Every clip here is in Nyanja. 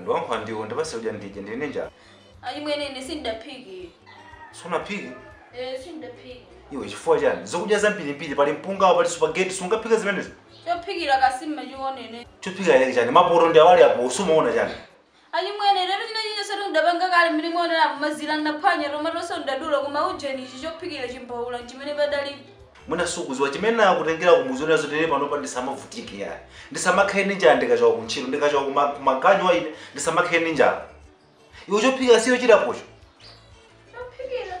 ndiwankha ndiwo ndipase udya ndidye ndili ndi njala achimwene ine sindidaphike sunaphike Eh, sindidaphike iwe chifukwa chani zokudya zambirimbiri pali mpungawo pali supageti sungaphike zimenezo chophikira kasima achimwene chophikira chake chani mapoto ndi awa ali apo sumaona chani Achimwene inetu chinachilichonsetu ndapanga kale mmene mwaoneramu mazila ndaphwanya tomatoso ndadula koma ujeni ichi chophikira chimbaula nchimene padalibe. Mwina sukuziwa chimene nakutengela kumudzi onena zotele panopa ndisamavutike yayi ndisamakhale ndi njala ndikachoka kuntchito ndikachoka kuma kumaganyuwa ine ndisamakhale ndi njala iwe chophikira sicho chili apocho chophikira.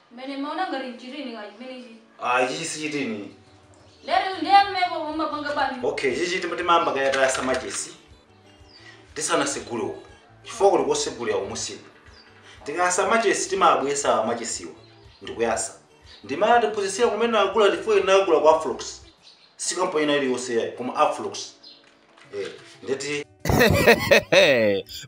Ine ndimaona ngati nchitini ka chimenechi. Ah, ichi sichitini. Lero ndiye mmepo mumapanga bwanji. Okay, ichi timayamba kaye tayasa machesi. Tisanasegule uko. Chifukwa kuli kosegulira kumusiku. Tikayasa machesi timabwesa machesiwa ndikuyasa. Ndimmene atiphunzitsira kumene nagula chifukwa ine nagula kwa Afrox. Si kampani ina iliyonse yayi koma Afrox.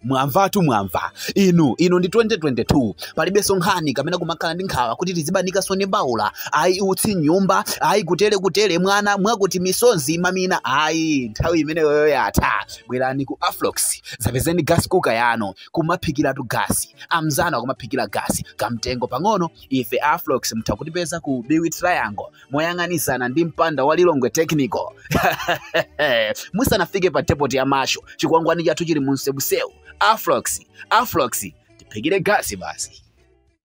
mwamvatu mwamva inu ino ndi 2022 palibenso nkhani kapena kumakhala ndi nkhawa kuti tizibanikaso ndi mbaula ayi utsi mnyumba ayi kutele kutele mwana mwakuti misonzi mamina ayi nthawi imeneyoyo yatha bwerani ku afrox zapezeni gas cooker yanu kumaphikiratu gasi amzanu akumaphikira gasi kamtengo pang'ono ife afrox mutha kutipeza ku biwi triangle moyang'anizana ndi mpanda wa lilongwe technical musanafike pa depoti ya masho chikwangwani chathu chili mu msewusewu afrox afrox tiphikire gasi basi